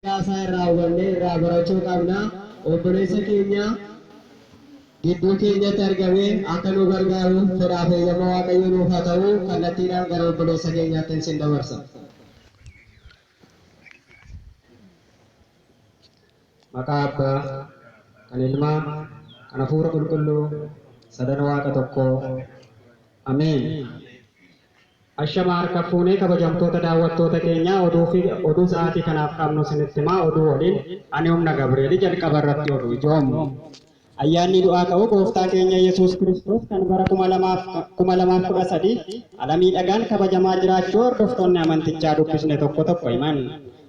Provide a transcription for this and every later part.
Seenaa isaa irraa hubannee irraa barachuu qabna. Obboleessa keenya gidduu keenyatti argamee akka nu gargaaru fedhaa fi eeyyama Waaqayyoo nuuf haa ta'u. Kallattiidhaan gara obboleessa keenyaattin sin dabarsa. Maqaa Abbaa, kan Ilmaa, kan Hafuura Qulqulluu, Sadan Waaqa Tokkoo. Ameen. Ashama harka fuune kabajamtoota daawwattoota keenyaa oduu fi oduu sa'aatii kanaaf qabnu isinitti himaa oduu waliin ani humna Gabri'eeli jalqaba irratti oduu ijoom. Ayyaannii du'aa ka'uu gooftaa keenya yesuus kiristoos kan bara 2013 ala miidhagaan kabajamaa jiraachuu hordoftoonni amantichaa dubbisne tokko tokko himan.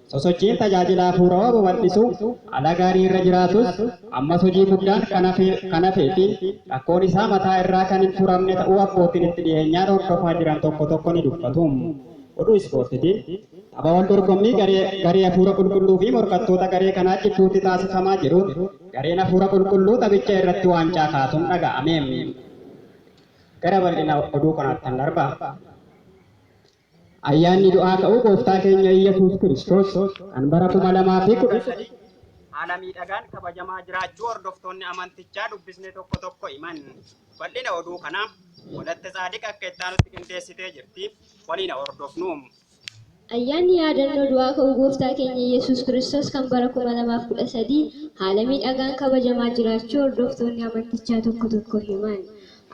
Sosochiin tajaajila hafuurawaa babal'isuu ala gaarii irra jiraatus, ammas hojii guddaan kan hafee fi rakkoon isaa mataa irraa kan hin furamne ta'uu abbootiin itti dhiyeenyaan hordofaa jiran tokko tokko ni dubbatu. Oduu Ispoortiitiin, Tapha wal dorgommii garee hafuura qulqulluu fi morkattoota garee kanaa jidduutti taasifamaa jiruun gareen hafuura qulqulluu taphicha irratti waancaa kaasuun dhaga'ame. Gara bal'ina oduu kanaattan darba. Ayyaanni Du'aa Ka'uu Gooftaa keenya Iyyasuus Kiristoos kan bara 2013 haala miidhagaan kabajamaa jiraachuu hordoftoonni amantichaa dubbisne tokko tokko himan. Bal'ina oduu kanaa Walatte Tsaadiq akka itti aanutti qindeessitee jirti. Waliin haa hordofnu. Ayyaanni Yaadannoo Du'aa Ka'uu Gooftaa keenya Iyyasuus Kiristoos kan bara 2013 haala miidhagaan kabajamaa jiraachuu hordoftoonni amantichaa tokko tokko himan.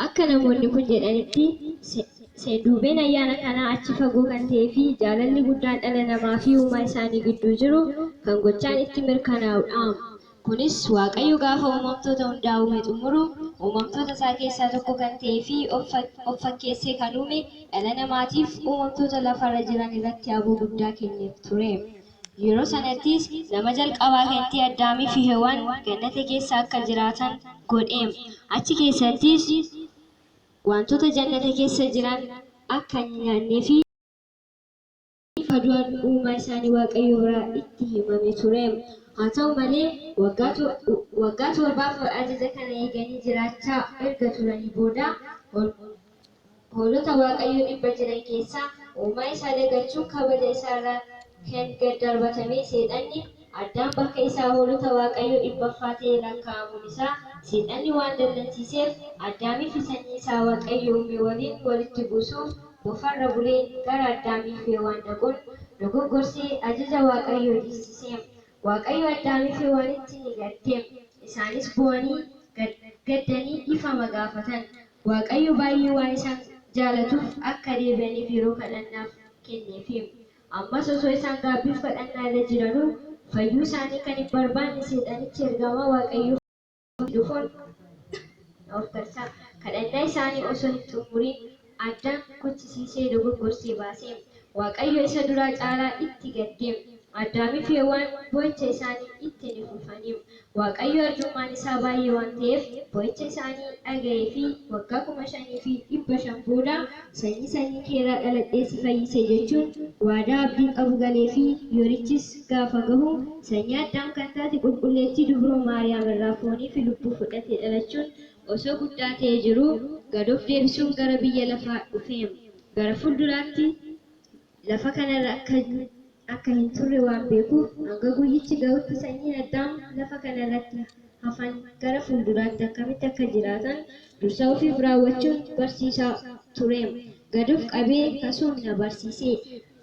Akka namoonni kun jedhanitti, seenduubeen ayyaana kanaa achi fagoo kan ta'ee fi jaalalli guddaan dhala namaa fi uumaa isaanii gidduu jiru kan gochaan itti mirkanaa'udhaam. Kunis, Waaqayyo gaafa uumamtoota hundaa uume xumuru, uumamtoota isaa keessaa tokko kan ta'ee fi of fakkeessee kan uume dhala namaatiif uumamtoota lafarra jiran irratti aboo guddaa kenneef ture. Yeroo sanattis nama jalqabaa kanatti Addaamii fi Hewwaan gannata keessa akka jiraatan godheem. Achi keessattis wantoota jannata keessa jiran akka hin nyaannee fi akka du'an uumaa isaanii Waaqayyo biraa itti himame tureem. Haa ta'u malee, waggaa waggaa torbaaf ajaja kana eeganii jiraachaa erga turanii booda, Hoolota Waaqayyoo dhibba jiran keessaa uumaa isaa dagachuun kabaja isaa irraa kan gad darbatame seexanni Addaam bakka isaa hoolota Waaqayyoo dhibbaffaa ta'ee lakkaa'amuun isaa seexanni waan dallansiiseef Addaamii fi sanyii isaa Waaqayyo uume waliin walitti buusuuf bofa irra bulee gara Addaamii fi Hewaan dhaquun dogoggorsee ajaja Waaqayyoo dhiissiseem Waaqayyo Addaamii fi Hewaanitti ni gaddeem isaanis boo'anii gaddanii dhifama gaafatan Waaqayyo baay'ee waan isaan jaalatuuf akka deebi'aniif yeroo kadhannaaf kenneefi. Ammas osoo isaan gaabbiif kadhannaa irra jiranuu fayyuu isaanii kan hin barbaanne seexanichi ergamaa Waaqayyoo fakkaatee dhufuun of karsa kadhannaa isaanii osoo hin xumuriin addaan kuchisiisee dogoggorse baase. Waaqayyo isa duraa caalaa itti gaddeem, Addaamii fi Hewwaan bo'icha isaanii itti ni fufaniim. Waaqayyo arjummaan isaa baay'ee waan ta'eef, bo'icha isaanii dhaga'ee fi waggaa 5,500 booda, Sanyii sanyii kee irraa dhaladhee si fayyise jechuun waadaa abdiin qabu galeefii, yorichis gaafa gahu, sanyii Addaam kan taate Qulqulleettii Dubroo Maariyaam irraa foonii fi lubbuu fudhatee dhalachuun osoo guddaa ta'ee jiruu gad of deebisuun gara biyya lafaa dhufeem gara fuulduraatti lafa kana irra akka akka hin turre waan beekuuf hanga guyyichi ga'utti sanyiin Addaam lafa kana irratti hafan gara fuulduraatti akkamitti akka jiraatan dursa ofiif raawwachuun barsiisaa tureem gad of qabee kasuum na barsiisee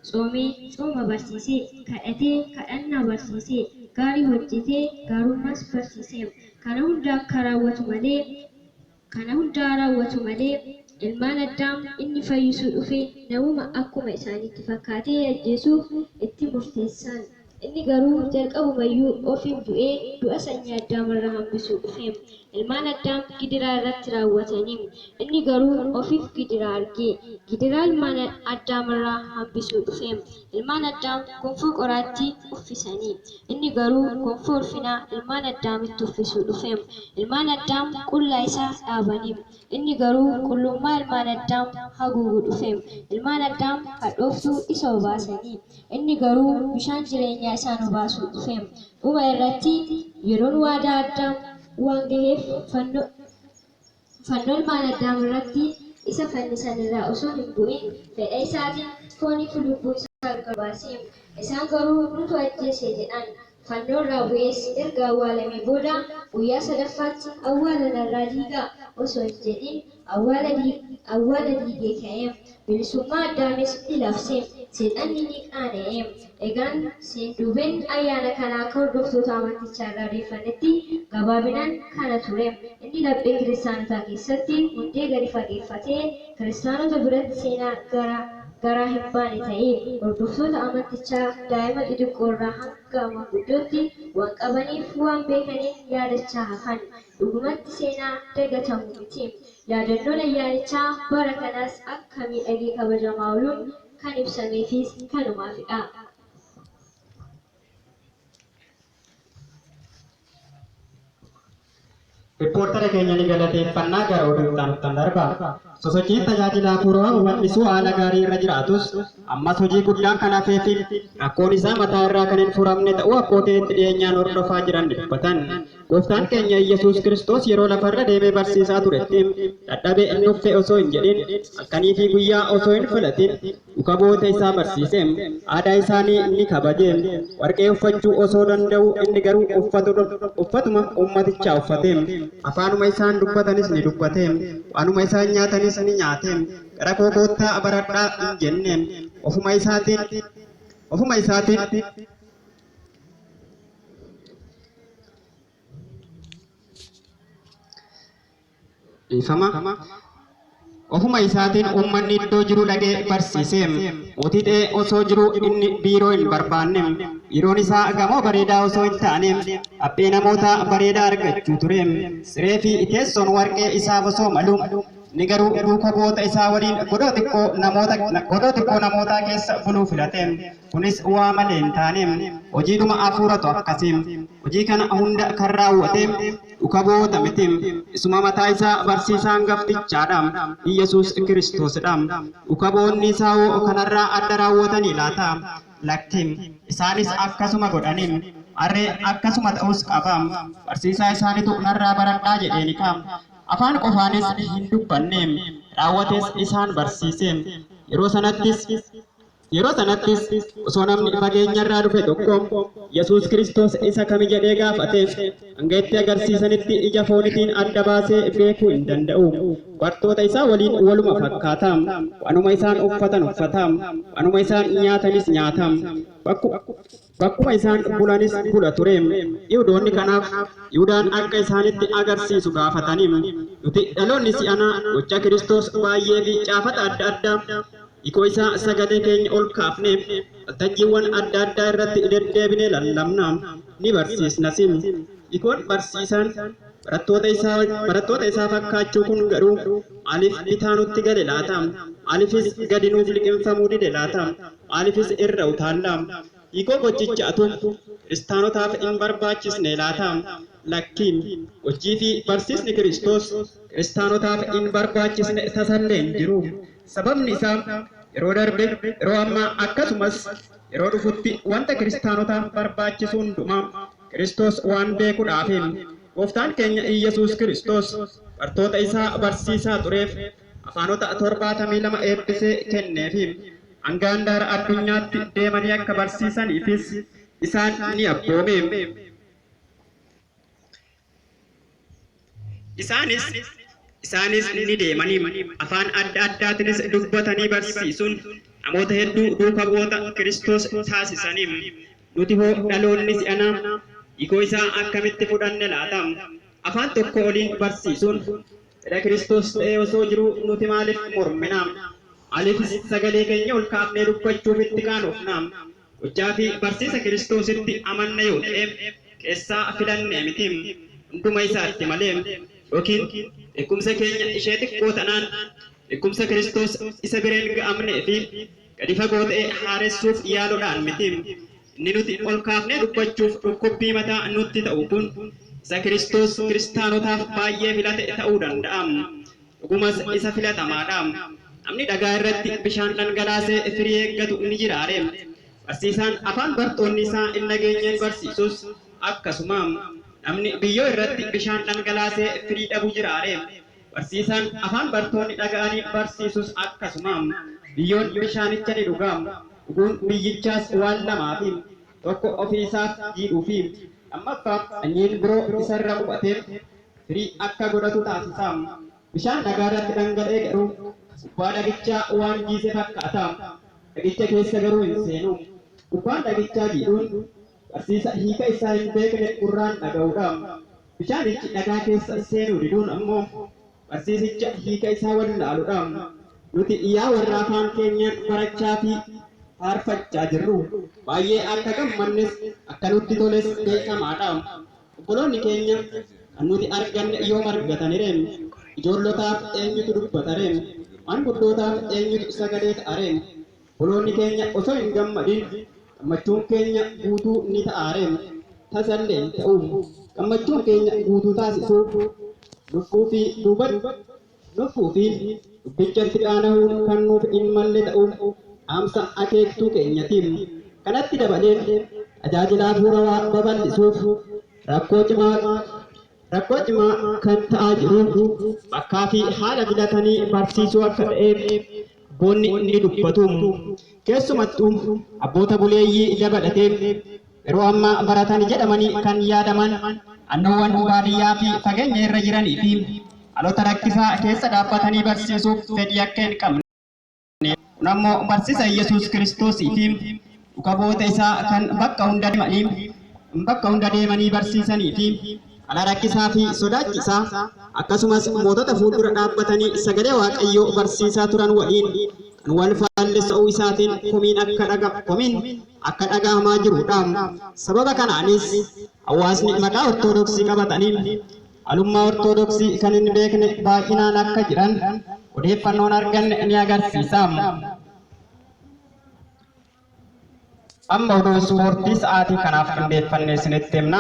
Tsoomee, tsooma barsiise. Kadhatee, kadhannaa barsiise. Gaarii hojjete, gaarummaas barsiiseem. Kana hunda akka raawwatu malee, kana hundaa raawwatu malee, ilmaan Addaam inni fayyisuu dhufe namuma akkuma isaaniitti fakkaatee ajjeesuuf itti murteessan. Inni garuu jalqabuma iyyuu ofiin du'ee du'a sanyii Addaam irra hambisuu dhufe. Ilmaan Addaam gidiraa irratti raawwatani. Inni garuu ofiif gidiraa arge. Gidiraa ilmaan Addaam irraa hambisuu dhufe. Ilmaan Addaam gonfoo qoraattii uffisani. Inni garuu gonfoo ulfinaa ilmaan Addaamitti uffisuu dhufe. Ilmaan Addaam qullaa isa dhaabani. Inni garuu qullummaa ilmaan Addaam haguugu dhufe. Ilmaan Addaam hadhooftuu isa obaasani. Inni garuu bishaan jireenyaa isaa nu baasuu dhufeem. Dhuma irratti yeroon waadaa Addaam waan gaheef fanno fanno ilmaan Addaam irratti isa fannisan irraa osoo hin bu'in fedha isaatiin foonii fi lubbuu isaa erga baaseem. Isaan garuu nutu ajjeese jedhan. Fannoo irraa bu'ees erga awwaalamee booda guyyaa sadaffaatti awwaala narraa diigaa osoo hin jedhin awwaala awwaala diigee ka'e. Bilisummaa Addaamis ni labse. Seexanni ni qaana'e. Egaan seenduubeen ayyaana kanaa akka hordoftoota amantichaa irraa odeeffannetti gabaabinaan kana ture. Inni laphee kiristaanotaa keessatti hundee gadi fageeffatee. Kiristaanota biratti seenaa gara garaa hin baane ta'ee, hordoftoota amantichaa daa'ima xixiqqoo irraa hanga manguddootti waan qabaniif waan beekaniin yaadachaa hafan. Dhugumatti seenaa dagatamu miti. Yaadannoon ayyaanichaa bara kanaas akka miidhagee kabajamaa ooluun kan ibsameefiis kanumaafidha. Rippoortara keenya ni galateeffannaa gara oduu itti aanuttan darba. Sosochiin tajaajila hafuuraa hubannisuu haala gaarii irra jiraatus ammas hojii guddaan kan hafee fi rakkoon isaa mataa irraa kan hin furamne ta'uu abbootiin itti dhiyeenyaan hordofaa jiran ni dubbatan. Gooftaan keenya Iyyasuus Kiristoos yeroo lafarra deemee barsiisaa turetti dadhabe hin dhuffe osoo hin jedhin halkanii fi guyyaa osoo hin filatin Dhuka bu'oota isaa barsiisee, aadaa isaanii ni kabaje, warqee uffachuu osoo danda'uu inni garuu uffatuma ummatichaa uffate. Afaanuma isaan dubbatanis ni dubbate, waanuma isaan nyaatanis ni nyaate. Gara koo koottaa baradhaa hin jenne. Ofuma isaatiin ofuma isaatiin. Dhiifama, Ofuma isaatiin uummanni iddoo jiru dhaqee barsiise. Mootii ta'ee osoo jiruu inni biiroo hin barbaanne. Biiroon isaa gamoo bareedaa osoo hin taane haphee namootaa bareedaa argachuu ture. Siree fi teessoon warqee isaaf osoo malu inni garuu duuka bu'oota isaa waliin godoo xiqqoo namoota godoo xiqqoo namootaa keessa buluu filate. Kunis waa malee hin taane. Hojiidhuma Hafuuratu akkasi. Hojii kana hunda kan raawwate dhukaboota miti. Isuma mataa isaa barsiisaa angaftichaa dha. Iyyasuus Kiristoos dha. Dhukaboonni isaa hoo kanarraa adda raawwatanii laata? Lakki. Isaanis akkasuma godhani. Har'e akkasuma ta'uus qaba. Barsiisaa isaanitu narraa baradhaa jedheeni ka. Afaan qofaanis hin dubbanne. Raawwatees isaan barsiise. Yeroo sanattis. Yeroo sanattis osoo namni fageenyarraa dhufe tokko Yesuus Kiristoos isa kami jedhee gaafate, hanga itti agarsiisanitti ija foonitiin adda baasee beekuu hin danda'u. Bartoota isaa waliin waluma fakkaata. Waanuma isaan uffatan uffata. Waanuma isaan nyaatanis nyaata. Bakkuma. Bakkuma isaan bulanis bula ture. Yihudoonni kanaaf Yihudaan akka isaanitti agarsiisu gaafataniiru. Nuti dhaloonni si'anaa gocha Kiristoos baay'ee fi caafata adda addaa hiikoo isaa sagalee keenya ol kaafnee waltajjiiwwan adda addaa irratti deddeebinee lallabna, ni barsiisnas. Hiikoon barsiisaan barattoota isaa barattoota isaa fakkaachuu kun garuu maaliif bitaa nutti gale laata? Maaliifis gadi nuuf liqimfamuu dide laata? Maaliifis irra utaalla? Hiikoo gochicha atu Kiristaanotaaf in barbaachisnee laata? Lakki. Gochii fi barsiisni Kiristoos Kiristaanotaaf in barbaachisne tasallee hin jiru. Sababni isaa yeroo darbe, yeroo ammaa, akkasumas yeroo dhufutti wanta Kiristaanotaaf barbaachisu hundumaa Kiristoos waan beekudhaafi. Gooftaan keenya Iyyasuus Kiristoos bartoota isaa barsiisaa tureef afaanota 72 eebbisee kenneefi. Hanga handaara addunyaatti deemanii akka barsiisaniifis isaan ni abboome. Isaanis Isaanis ni deemanii afaan adda addaatinis dubbatanii barsiisuun namoota hedduu duuka bu'oota Kiristoos taasisanii. Nuti hoo dhaloonni si'anaa hiikoo isaa akkamitti fudhanne laata? Afaan tokkoo oliin barsiisuun Fedha Kiristoos ta'ee osoo jiruu nuti maaliif mormina? Maaliifis sagalee keenya ol kaafnee dubbachuuf itti qaanofna? Gochaa fi barsiisa Kiristoositti amanna yoo ta'e, keessaa filannee miti, hunduma isaatti malee. Yookiin beekumsa keenya ishee xiqqoo tanaan, beekumsa Kiristoos isa bira hin ga'amnee fi. Gadi fagoo ta'e haaressuuf yaaluudhaan miti. Inni nuti ol kaafnee dubbachuuf dhukkubbii mataa nutti ta'u kun, isa Kiristoos Kiristaanotaaf baay'ee filate ta'uu danda'a. Dhugumas isa filatamaa dha. Namni dhagaa irratti bishaan dhangalaasee firii eeggatu ni jiraa ree? Barsiisaan afaan bartoonni isaa hin dhageenyeen barsiisus akkasuma. Namni biyyoo irratti bishaan dhangalaasee firii dhabu jiraa ree? Barsiisaan afaan bartoonni dhaga'aniin barsiisus akkasuma. Biyyoon bishaanicha ni dhuga. Dhuguun biyyichaas waan lamaafi. Tokko ofii isaaf jiidhuufi. Lammaffaa sanyiin biroo isa irra qubate firii akka godhatu taasisa. Bishaan dhagaa irratti dhangala'e garuu gubbaa dhagichaa waan jiise fakkaata. Dhagicha keessa garuu hin seenu. Gubbaan dhagichaa jiidhuun. Barsiisa hiika isaa hin beekne gurraan dhaga'uu dha. Bishaanichi dhagaa keessa seenuu diduun ammoo barsiisicha hiika isaa wallaalu dha. Nuti yaa warra afaan keenyaan barachaa fi faarfachaa jirru, baay'ee akka gammannes akka nutti toles beekamaa dha. Obboloonni keenya kan nuti arganne yoom argatani ree? Ijoollotaaf eenyutu dubbata ree? Maanguddootaaf eenyutu sagalee ta'a ree? Holoonni keenya osoo hin gammadin gammachuun keenya guutuu ni ta'aareem? Tasallee hin ta'uum! Gammachuun keenya guutuu taasisuuf, lubbuu fi duubatti, lubbuu fi Dubbichatti qaanahuun kan nuuf hin malle ta'uu dhaamsa akeektuu keenyatiim. Kanatti dabalee, tajaajila hafuurawaa babal'isuuf rakkoo cimaa qaba. Rakkoo cimaa kan ta'aa jiru bakkaa fi haala filatanii barsiisuu akka ta'eef abboonni ni dubbatu. Keessumattuu abboota buleeyyii dabalatee yeroo ammaa baratan jedhamanii kan yaadaman naannoowwan baadiyyaa fi fageenya irra jiranii fi haalota rakkisaa keessa dhaabbatanii barsiisuuf fedhii akka hin qabne Kun ammoo barsiisa Yesuus Kiristoos fi dhugaboota isaa kan bakka hunda deemanii bakka hunda deemanii barsiisanii fi ala rakkisaa fi sodaachisaa akkasumas mootota fuuldura dhaabbatanii sagalee Waaqayyoo barsiisaa turan waliin kan wal faallessu ta'uu isaatiin komiin akka dhaga komiin akka dhagahamaa jirudha. Sababa kanaanis hawaasni maqaa Ortodoksii qabatanii Alummaa Ortodoksii kan hin beekne baay'inaan akka jiran odeeffannoon arganne ni agarsiisa. Amma oduu ispoortii sa'aatii kanaaf qindeeffannee isinitti himna.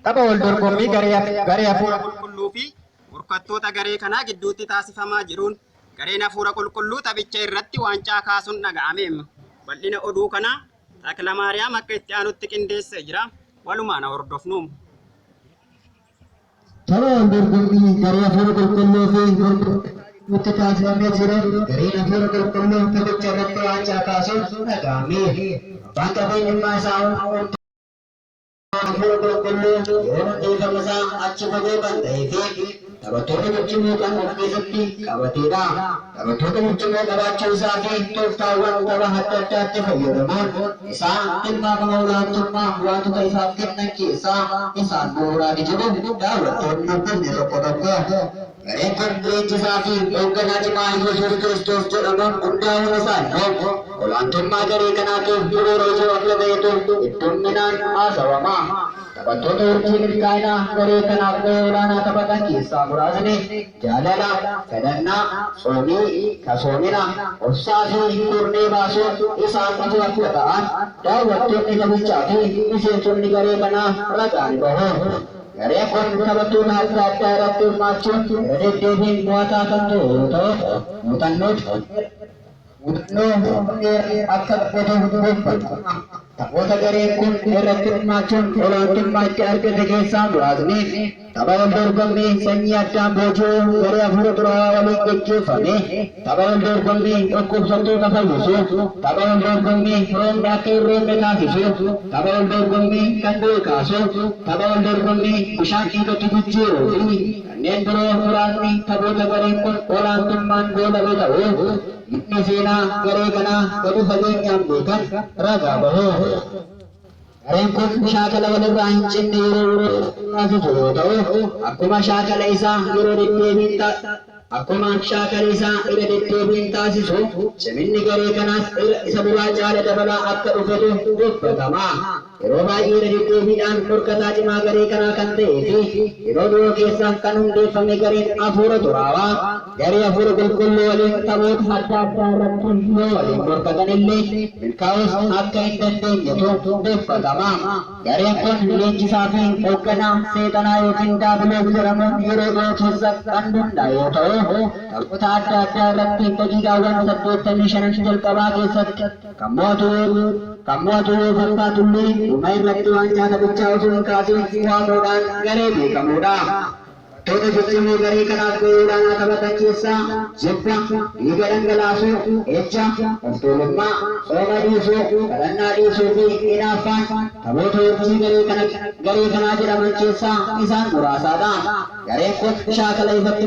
Tapha wal dorgommii garee hafuura qulqulluu fi morkattoota garee kanaa gidduutti taasifamaa jiruun gareen hafuura qulqulluu taphicha irratti waancaa kaasuun dhaga'ame. Bal'ina oduu kanaa Taklamaariyaam akka itti aanutti qindeessee jira. Walumaan haa hordofnu. Tolaan dorgommii garee hafuura qulqulluu fi gurgurtuutti taasifamee jira. Gareen hafuura qulqulluu taphicha irratti waancaa kaasuun dhaga'ame. Abbaan qabeenyummaa isaa Hafuura qulqulluun yoom dhiifama isaa achi fagoo kan ta'ee fi taphattoota ciccimoo kan of keessatti qabateedha. Taphattoota ciccimoo qabaachuu isaa fi tooftaawwan tapha adda addaatti fayyadamuun isaa tilmaama olaantummaa waantota isaaf kennan keessaa isaan bu'uuraati jedhu daawwattoonni Dubbisne tokko tokko. Gareen kun leenjisaa fi hoogganaa cimaa Iyyasuus Kiristoos jedhamuun hundaa'uun isaa immoo olaantummaa garee kanaatiif bu'uura ijoo akka ta'etu heddumminaan haasawama. Taphattoota urjii milkaa'inaa garee kanaaf gahee olaanaa taphatan keessaa muraasni Jaalala, Kadhannaa, Tsoomii, Kasoomina, Obsaa fi Kurnee baasuun isaan ijoo akka ta'an daawwattoonni taphichaa fi miseensonni garee kanaa ragaa ni bahu. Gareen kun taphattoota adda addaa irratti hirmaachuun irra deddeebiin mo'ataa kan ture yoo ta'u, muuxannoo dheeraa akka godhatu beekama. Taphoota gareen kun irratti hirmaachuun olaantummaa itti argate keessaa muraasni tapha waldorgommii sanyii addaan booji'uu garee afuura xuraawaa waliin geggeeffame, Tapha wal dorgommii dhukkubsattoota fayyisuu, tapha wal dorgommii firoomni akka hin roobne taasisuu, tapha wal dorgommii kan du'e kaasuu, tapha wal dorgommii bishaan dhiigatti jijjiiruu fi kanneen biroo muraasni taphoota gareen kun olaantummaan goolabe ta'uu namni seenaa garee kanaa gadi fageenyaan beekan ragaa bahu. Gareen kun shaakala walirraa hin cinne yeroo yerootti xumuraa ka jiru yoo ta'u, akkuma shaakala isaa yeroo deddeebiin ta, akkuma shaakala isaa irra deddeebiin taasisu ciminni garee kanaas irra isa duraa caala dabalaa akka dhufetu dubbatama. Yeroo baay'ee irra deddeebiidhaan morkataa cimaa garee kanaa kan ta'ee fi yeroo dhiyoo keessa kan hundeeffame gareen Afuura Xuraawaa, Garee Hafuura Qulqulluu waliin taphoota adda addaa irratti yoo waliin morkatan illee milkaa'uus akka hin dandeenyetu dubbatama. Gareen kun leenjisaa fi hogganaa Seexanaa ykn Daabiloos jedhamuun yeroo dhihoo keessa kan hundaa'e yoo ta'u, taphoota adda addaa irratti daqiiqaawwan 85n jalqabaa keessatti kan mo'atu yoo kan mo'atu yoo fakkaatu illee, dhuma irratti waancaa taphichaa osoo hin kaasiin waamuudhaan garee beekamuudha. Taphattoota ciccimoo garee kanaaf gahee olaanaa taphatan keessaa jibba, dhiiga dhangalaasuu, ejja, of tuulummaa, sooma dhiisuu, kadhannaa dhiisuu fi inaaffaan taphoota urjii garee kana garee kanaa jedhaman keessaa isaan muraasaa dha. Gareen kun shaakala ifatti.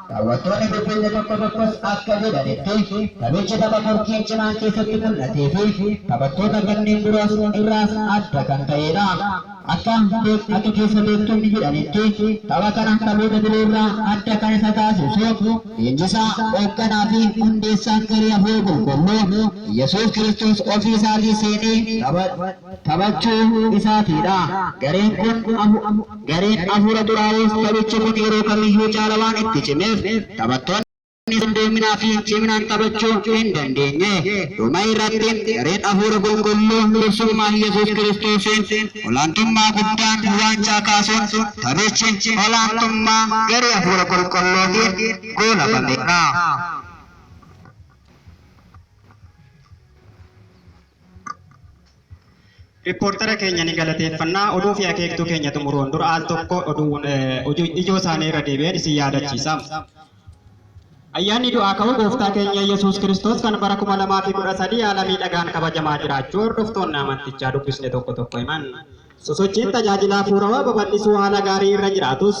Daawwattoonni dubbifne tokko tokkos akka jedhanitti, taphichi tapha morkiin cimaan keessatti mul'ateefi taphattoota kanneen biroos irraas adda kan ta'eedha. Akka beek akka keessa beektonni jedhanitti, tapha kana taphoota biroorraa adda kan isa taasisu, leenjisaa, oogganaafi hundeessaan garee Hafuurri Qulqulluu, Iyyasuus Kiristoos ofii isaatii seenee tapha. taphachuu isaatii dha. Gareen kun gareen afuura xuraa'uus taphichi kun yeroo kamiyyuu caala waan itti cimeef taphattoonni isaa qindoominaa fi ciminaan taphachuu hin dandeenye. Dhuma irratti gareen afuura qulqulluu dursummaa Iyyasuus Kiristoosiin olaantummaa guddaan waancaa kaasuun taphichi olaantummaa garee afuura qulqulluutiin goolabameera. Rippoortara keenya ni galateeffanna. Oduu fi akeektuu keenya xumuruun dura al tokko oduu eh, oduu ijoo isaanii irra deebi'een isin yaadachiisa. Ayyaanni du'aa ka'uu gooftaa keenya Yesuus Kiristoos kan bara 2013 haala miidhagaan kabajamaa jiraachuu hordoftoonni amantichaa dubbisne tokko tokko himan. Sosochiin tajaajila hafuurawaa babal'isuu haala gaarii irra jiraatus,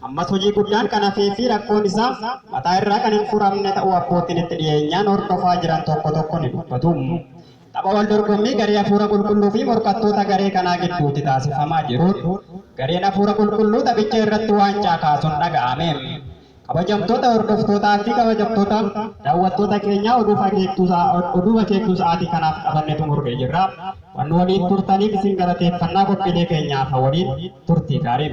ammas hojii guddaan kan hafee fi rakkoon isaa mataa irraa kan hin furamne ta'uu abbootiin itti dhiyeenyaan hordofaa jiran tokko tokko ni dubbatu. Tapha wal dorgommii garee hafuura qulqulluu fi morkattoota garee kanaa gidduutti taasifamaa jiruun, gareen hafuura qulqulluu taphicha irratti waancaa kaasun dhaga'ame. Kabajamtoota hordoftootaa fi kabajamtoota dawwattoota keenyaa oduuf akeektuusaa oduuf akeektuu sa'aatii kanaaf qabanne xumurree jirra. Waan nu waliin turtaniif isin galateeffannaa qophiilee keenyaa hafan waliin turtii gaarii.